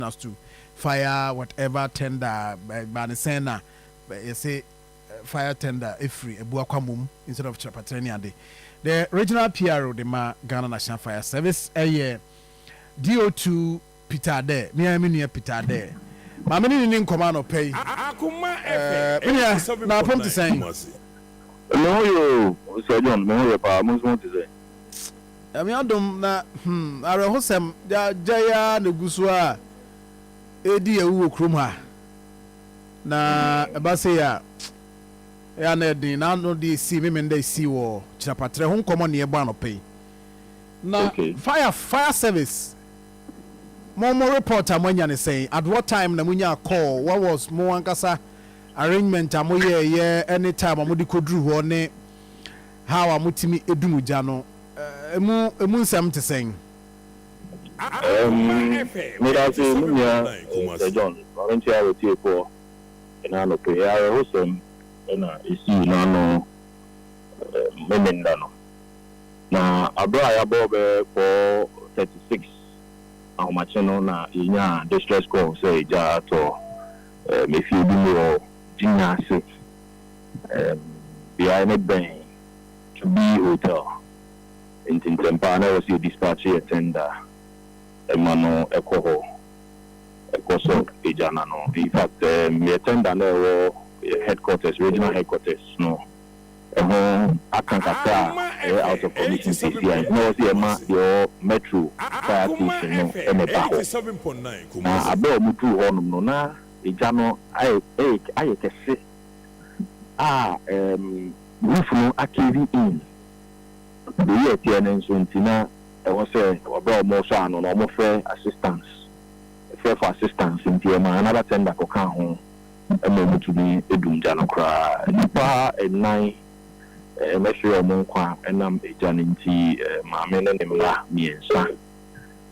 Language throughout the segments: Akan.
as to fire whatever tender ɛbaa no sɛn na yɛse fire tender ɛfiri abua kwa mom instead of kyerɛpaterɛ ne ade. The regional PRO de ma Ghana National Fire Service ɛyɛ DO2 Peter Adeh, me ara me nua Peter Adeh. Ma me ne no ni nkɔmmɔ anɔpa yi. Eh, me nua, na apom te sɛn? Me ho ye o, Sir John, me ho ye paa, mo nso mo ho te sɛn? Nyame adom na hmm awerɛhosɛm gyae ara na egu so a ɛredi awu wɔ kurom ha. Na ɛba sei a ɛyɛ a na ɛyɛ den na ano deɛ ɛsii me Menda ɛsii wɔ Kyirapatrɛ ho nkɔmmɔ na yɛbɔ anɔpa yi. Na fire fire service mo mo report a moanya ne sɛn? At what time na monyaa call? What was mo ankasa arrangement a moyɛɛyɛ ne time a mode kɔduru hɔ ne How a motumi du mo gya no mu emu nsɛm te sɛn? Medase mo nua Sir John, ma me nkyea w'atiefoɔ ɛna anɔpɛ yi. Awerɛhosɛm na ɛsii n'ano Memeneda no, na aberɛ a yɛabɔ bɛyɛ four thirty six ahomakye no na yɛnyaa distress call sɛ egya atɔ m'efiebi mu wɔ Gyinya ase. beae no bɛn To Be Hotel, enti ntɛmpa ara na ɛwɔ sɛ yɛdispatche yɛn tender ma no kɔ hɔ kɔsɔ gya no ano. In fact, yɛn tender no a ɛwɔ yɛn headquarters, regional headquarters no ho aka kakra a ɛyɛ out of commission seesei a, enti na ɛwɔ sɛ yɛma deɛ ɛwɔ Metro fire station no na ɛba hɔ. Na berɛ a wɔduu hɔnom no, na. Egya no ayɛ kɛse a Ruth no akeevi in. Beyi a ɛteɛ no nso nti na ɛwɔ sɛ ɔbrɛ a wɔsɔ ano no wɔfrɛ assistance, frɛ for assistance nti ɔmaa another tender kɔkaa ho ma wɔtumi dum gya no koraa. Nnipa nnan ɛhwere wɔn nkwa ɛnam egya no nti, maame ne ne mma mmiɛnsa.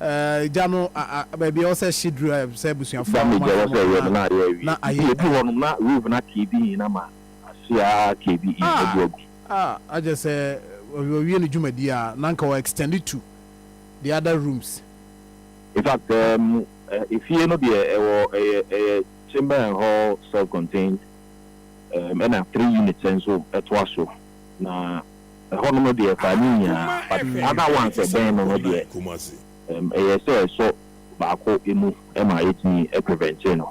Eh, gya no a, a, baabi a ɛwɔ sɛ hye duru a, sɛ abusuafoɔ a wɔn a wɔn ho ka na ayɛ na ayɛ wu. Ah, ah, agye sɛ wɔwie ne dwumadie a, na anka wɔ extend to the other rooms. In fact, um, eh, efie no deɛ ɛwɔ ɛyɛ ɛyɛ chamber and hall self-contained, um, ɛna three units nso ɛtoa so. Na ɛhɔnom deɛ fa ne nyinaa, but other ones a ɛbɛn no no deɛ, ɛɛm, ɛyɛ sɛ sɔ baako mu ma yɛtumi prevente no.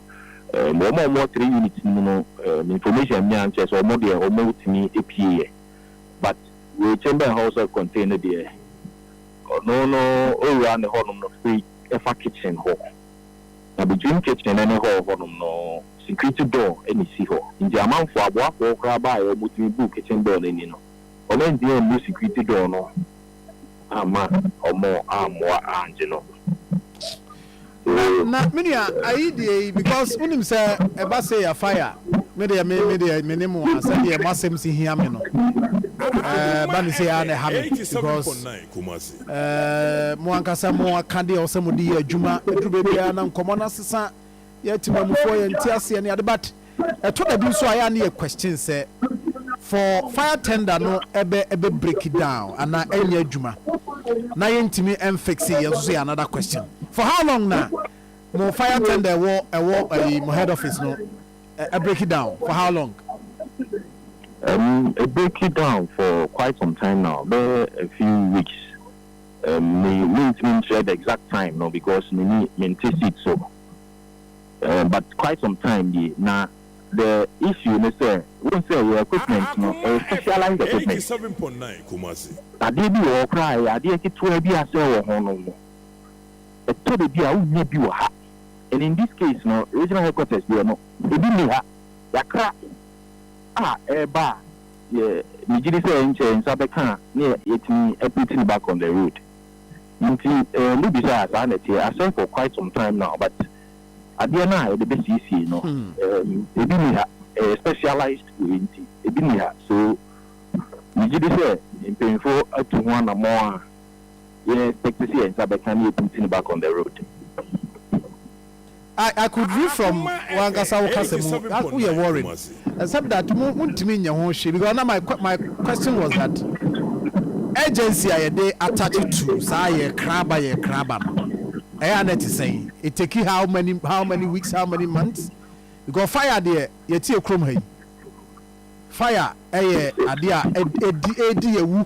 Ɛɛm, wɔn a wɔwɔ three units no mu no, ɛɛm, information a menyaeɛ no kyerɛ sɛ wɔn deɛ wɔtumi pieeɛ, but wei Chamber and Hall Self-Contained no deɛ, ɔno no owura no hɔnom no firi fa kitchen hɔ. Na me dream kitchen ne hall hɔnom no security door na esi hɔ nti amanfoɔ aboafoɔ koraa baa yɛ ɔmo tumi buu kitchen door no ani no ɔmo antumi ammu security door no amma ɔmo ammoa angye no Na so na me nua ayi deɛ yi because wonim sɛ ɛba sei a fire me deɛ me me deɛ me ne mo a sɛdeɛ mo asɛm si hia me no ɛɛ ba ne sei a na ɛha me because. Ɛɛ, mo ankasa mo aka deɛ ɔsɛ mo de yɛ adwuma. Ɛduru baabi ara na nkɔmmɔ no asesa. Yɛ atemamufoɔ, yɛ nte aseɛ ne ade but ɛtɔ da bi nso a yɛ a ne yɛ question sɛ for fire tender no ɛbɛ ɛbɛ break down anaa ɛnyɛ adwuma na yɛ ntumi ɛnfixe yɛ nso so yɛ another question. For how long na mo fire tender ɛwɔ ɛwɔ ɛyi mo head office no? Ɛ ɛ break it down for how long? Um, ɛ break it down for quite some time now, bɛyɛ a few weeks. Um, me mentumi nkyerɛ the exact time no because me ni mente seat so. Um, but quite some time nie, na the issue ne sɛ, wohu sɛ yɛ equipment no, ɛyɛ specialized equipment. Adeɛ bi wɔ hɔ koraa a ɛyɛ adeɛ ketewa bi a sɛ ɛwɔ ho no, ɛtɔ da bi a wonnya bi wɔ ha. and in this case no regional headquarters deɛ no ebi nni ha, yɛakra a ɛreba a deɛ megye di sɛ nkyɛ yɛn nsa bɛka a na yɛatumi aput no back on the road nti eh, mobisa a saa na ɛteɛ, asɛm for quite some time now but adeɛ no a yɛde bɛsiesie no eh, ebi nni ha, ɛyɛ specialized wei nti ebi nni ha so megye di sɛ mpanyinfoɔ atu ho anammɔn a yɛ picture si yɛ nsa bɛka ne yɛ putting it back on the road. I I could read from wankasa wo kasa mu wo yɛ worried except that mo mo ntumi nyɛ ho hwee because na my my question was that urgency a yɛde attach to saa yɛ kra ba yɛ kra ba no ɛyɛ a na ɛte sɛn it take how many how many weeks how many months because fire deɛ yɛte yɛ kurom ha yi fire ɛyɛ adeɛ a ɛdi ɛdi yɛ wu.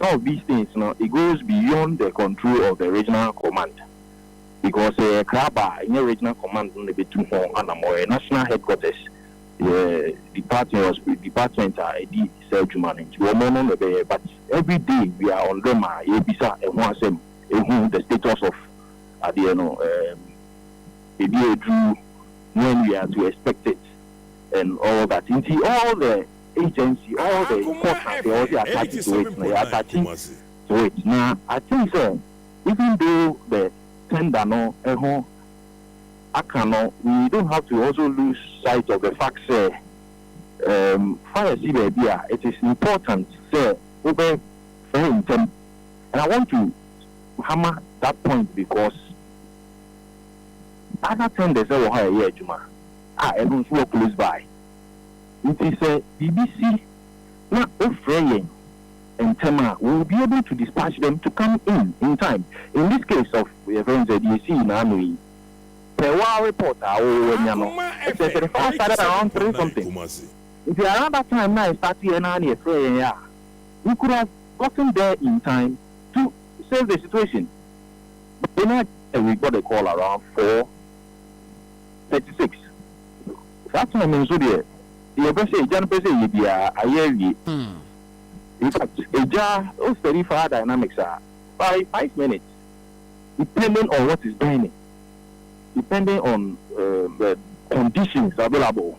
some of these things no it goes beyond the control of the regional command because sɛ yɛ kra ba a nyɛ regional command no na ɛbɛtu ho anamɔ ɛyɛ national headquarters yɛ department or department a ɛdi saa adwuma no nti wɔn no na ɛbɛyɛ but every day we are on them a yɛbisa ɛho asɛm ɛhu the status of adeɛ no um, ɛdi aduru when we are to expect it and all that nti all the agency all the court na deɛ ɔde attach to it no yɛ attach to it na I think sɛ even though the tender no ɛho aka no we don't have to also lose sight of the fact sɛ um fa yɛsi baabi a it is important sɛ wo bɛ frɛ ntɛm and I want to hammer that point because other tenders ɛwɔ hɔ a yɛyɛ adwuma a ɛno nso wɔ close by. Enti sɛ biribi si na wofrɛ yɛn ntɛm a, we will be able to dispatch them to come in in time. In this case of yɛfrɛ no sɛ deɛ ɛsii naano yi, per wo ara report a woanya no, ɛkyerɛ sɛ the fire started around three something. Nti around that time no a ɛstarteeɛ no ara na yɛfrɛɛ yɛn a, we could have gotten there in time to save the situation. But we got the call around four thirty six saa time no nso deɛ deɛ ɔpɛ sɛ agya no pɛ sɛ ɛyɛ biara ayɛ awie in fact agya o study fire dynamics a by five minutes depending on what is burning depending on uh, the conditions available.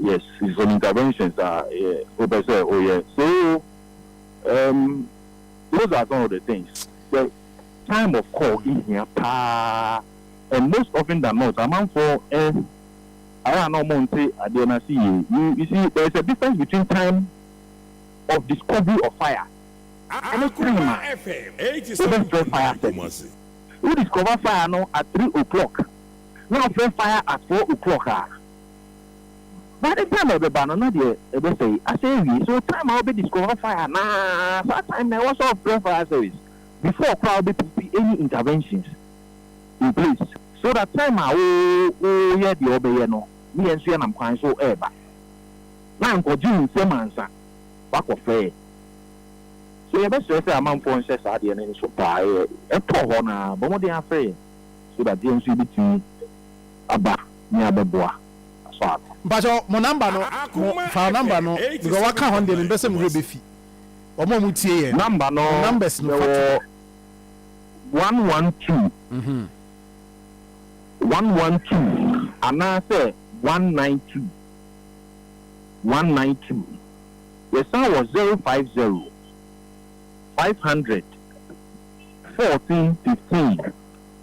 Yes it's an intervention saa yeah wopɛ sɛ woyɛ so um those are some of the things the time of call ehia paa and most often than not amanfoɔ eh ayɛ a na ɔmo nte adeɛ no ase yie you you see there is a difference between time of discovery of fire ɛne time a wobɛfrɛ fire service wo discover fire no at three o'clock na wofrɛ fire at four o'clock a. But ne time a ɛbɛba no na deɛ ɛbɛsɛe asɛe awie so time a wobɛ discover fire anaa saa time na ɛwɔ sɛ ɔfrɛ fire service before koraa wobɛ put any interventions in place so that time a wo wo yɛ deɛ wobɛyɛ no ne yɛn nso yɛnam kwan so ɛɛba na nkɔgye wo nsam ansa wakɔ frɛ yɛ so yɛbɛsrɛ sɛ amanfoɔ nhyɛ saa deɛ no nso paa yɛ ɛtɔ hɔ no a bɔ mmɔden afrɛ yɛn so that yɛn nso yɛbɛtumi aba ne abɛboa asɔ ano. Mpakyɛw mo number no mo fa number no because waka hɔn deɛ mempɛ sɛ me werɛ bɛfi wɔn a wɔn tie yɛn no Number no wɔn numbers no fa to hɔ. yɛwɔ one one two one one two anaasɛ one nine two one nine two yɛsan wɔ zero five zero five hundred fourteen fifteen.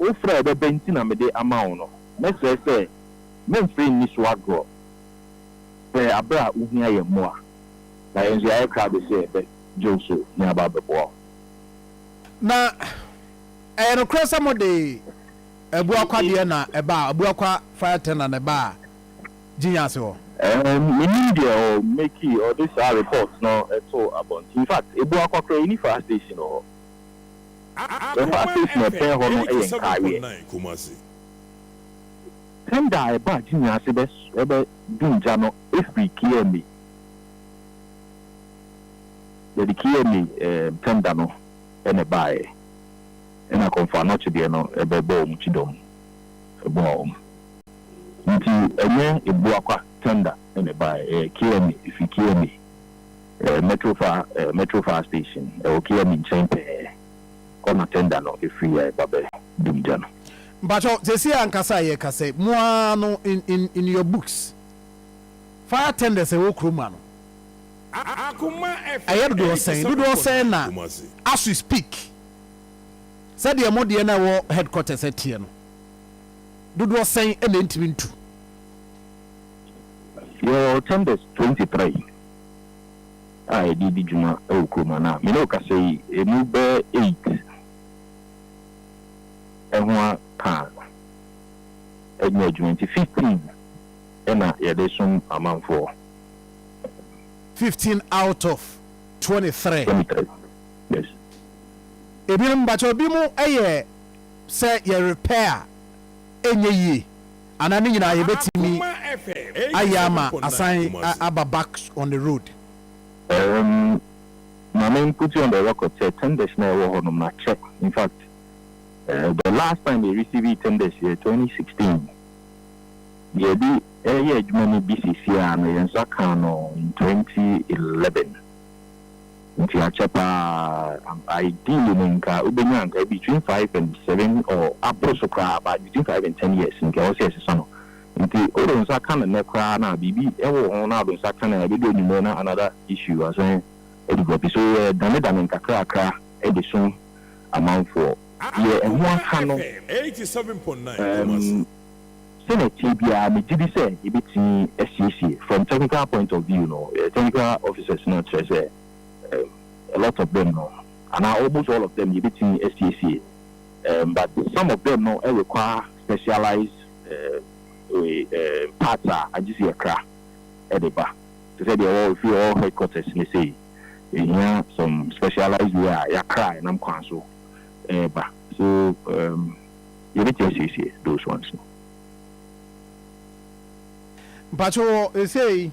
Wofrɛ a ɛbɛba nti na mede ama wo no, mɛsrɛ sɛ meremfiri nni so agorɔ. Frɛ berɛ a wohia yɛn mmoa, na yɛn nso yɛayɛ krado sɛ yɛbɛgye wo so na yɛaba abɛboa wo. Na ɛyɛ nokorɛ sɛ mode Abua Kwa deɛ na ɛbaa, Abua Kwa Fire Tender na ɛbaa Gyinya ase hɔ? Mennim deɛ ɔ make ɔde saa report no too abɔnten. Infact Abua Kwa koraa yɛnni fire station wɔ hɔ. Ɛhɔ afei tena ɛpɛn hɔ no yɛ nkaayeɛ. Tender a ɛbɔ agye nyinaa ase bɛ dum gya no firi KMA. Yɛde KMA tender no na ɛbaeɛ ɛna Komfo Anokye deɛ no bɛ bɔɔ wɔn kyidɔm boaa wɔn. Nti ɛnyɛ Abuakwa tender na ɛbaeɛ ɛyɛ KMA ɛfiri KMA. Metrofa Metrofa station ɛwɔ kea mi nkyɛn pɛɛ kɔ na tender no ɛfiri yɛ ba bɛ dum gya no. Mpakyɛw sɛsii ankasa a yɛ kasa yi mo aa no in in in your books fire tenders a ɛwɔ kurom ha no ɛyɛ dodoɔ sɛn dodoɔ sɛn na as we speak sɛdeɛ mo deɛ no a ɛwɔ headquarters ɛteɛ no dodoɔ sɛn na ɛntumi ntu. Yɛwɔ tenders twenty three. a yɛde redi dwuma wɔ kurom anaa? Me ne wo kasa yi, emu bɛyɛ eight ho ara pɛ a ɛnyɛ adwuma nti, fifteen na yɛde som amanfoɔ. Fifteen out of twenty three. Twenty three, yes. Ebinom, mpakyɛw, ebinom yɛ sɛ yɛ repair a ɛnyɛ yie. Anaa ne nyinaa yɛbɛtumi ayɛ ama asan aba back on the road. Erm Maame n put you on the record sɛ tenders no a ɛwɔ hɔ no makyɛ in fact the last time yɛ receivee tenders yɛ twenty sixteen yɛde reyɛ adwuma no bi sesiaa no yɛn nsa kaa no in twenty eleven. Nti akyɛ paa ampa ideally no nka wobɛnya nka between five and seven or aboro so koraa but between five and ten years nka ɛwɔ sɛ ɛsesa no nti wode wo nsa ka no nnɛ koraa no a biribi wɔ ho na wode wo nsa ka no a ɛbɛdu anwumerɛ na another issue asan adevelop so yɛdane dane nkakrakra de som amanfoɔ deɛ ɛho aka no um. Sɛnea ɛteɛ biara, megye di sɛ yebetumi asiesie, from technical point of view no, yɛn technical officers no, kyerɛ sɛ, a lot of them no, anaa almost all of them, yebetumi asiesie, but some of them no require specialized parts a agye sɛ yɛkra de ba, te sɛ deɛ ɛwɔ ɛfiri ɛwɔ headquarters no sei, yɛhia some specialized wei a yɛakra ɛnam kwan so reba, so. Yɛbɛtumi asiesie those ones no. Mpakyɛ wɔ ɛsei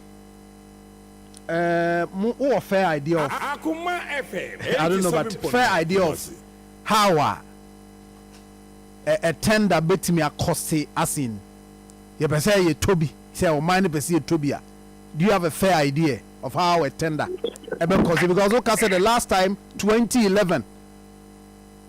eh, mo wowɔ fair idea of I don't know but fair idea of how a eh, eh, tender bɛtumi akɔste as in yɛpɛ sɛ yɛtɔ bi sɛ ɔman no pɛ sɛ yɛtɔ bi a do you have a fair idea of how a tender ɛbɛkɔste because woka sɛ the last time 2011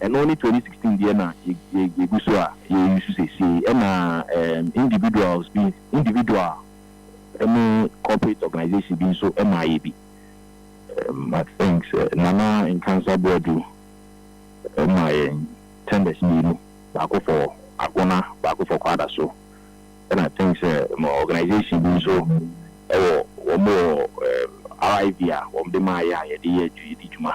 Ɛno ne twenty sixteen deɛ na yɛgu so a yɛ use seesei ɛna ɛɛm individuals bi individual ɛne corporate organization bi nso ɛmaa yɛ bi. Um, I think sɛ Nana Nkansah Boadu ɛmaa yɛn tenders mmienu, baako for Agona, baako for Kwadaso, ɛna I think sɛ mo organization bi nso ɛwɔ wɔn wɔ ɛɛm RIV a wɔn de maa yɛ a yɛde yɛ yɛdi dwuma.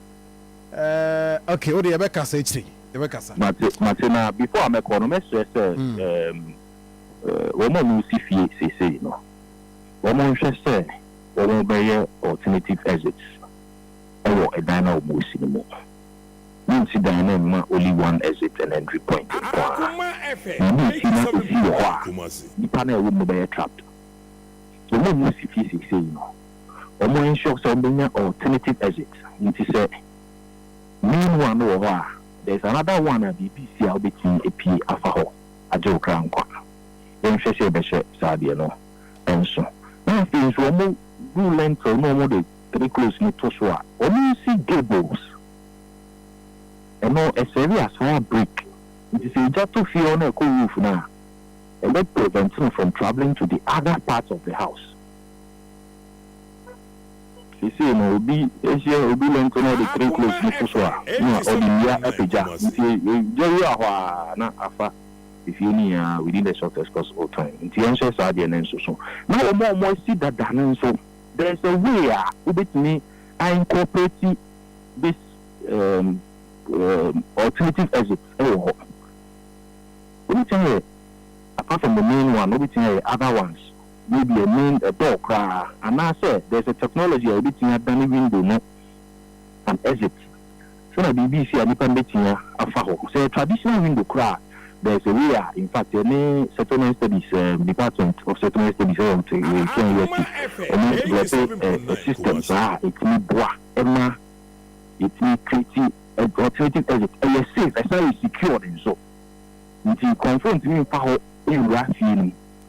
Eh, okay, wode yɛbɛkasa akyiri, yɛbɛkasa. Mate, mate, na before a mɛkɔ no, mɛsrɛ sɛ ɛɛm wɔn a wɔresi fie seesei no, wɔnhwɛ sɛ wɔbɛyɛ alternative exits wɔ dan no a wɔresi no mu. Monnsi dan no mma only one exit and entry point nko ara, na monnsi na esi wɔ hɔ a nnipa no a ɛwɔ mu no bɛyɛ trapped. Wɔn a wɔresi fie seesei no, wɔn ensure sɛ wɔbɛnya alternative exit nti sɛ main one no wɔ hɔ a there is another one a biribi resi a wobɛtumi apue afa hɔ agye wo kra nkwa. Yɛnhwɛ sɛ yɛbɛhyɛ saa adeɛ no nso. Na afei nso wɔbu lintel na wɔde three close no to so a, wɔnsi gables. Ɛno ɛsɛre as fire break nti sɛ egya to fie hɔ na ɛkɔ roof no a, ɛbɛ prevent no from travelling to the other parts of the house. Seesei no, obi hyɛ obi lɛnte na ɔde three close no to so a, na ɔde nnua apagya. Nti egya wura hɔ a, na afa efie no nyinaa within the shortest possible time. Nti yɛnhyɛ saa deɛ no nsoso. Na wɔn a wɔasi dada no nso, there is a way a wobɛtumi a incorporate this um, um, alternative exit wɔ hɔ. Wobɛtumi ayɛ, apart from the main one, wobɛtumi ayɛ other ones. Wei deɛ mean ɛbɔɔ koraa anaa sɛ there's a technology a yɛbɛtumi adane window no an exit sɛnea biribi resi a nipa no bɛtumi afa hɔ sɛ traditional window koraa a there's a way a in fact yɛne settlement studies um, department of settlement studies ɛwɔ nte wei Kenya university wɔn develop a, a system saa a ɛtumi boa ɛma yɛtumi create alternative exit ɛyɛ safe ɛsan yɛ secured nso nti nkurɔfoɔ ntumi mfa hɔ nwura fie no mu.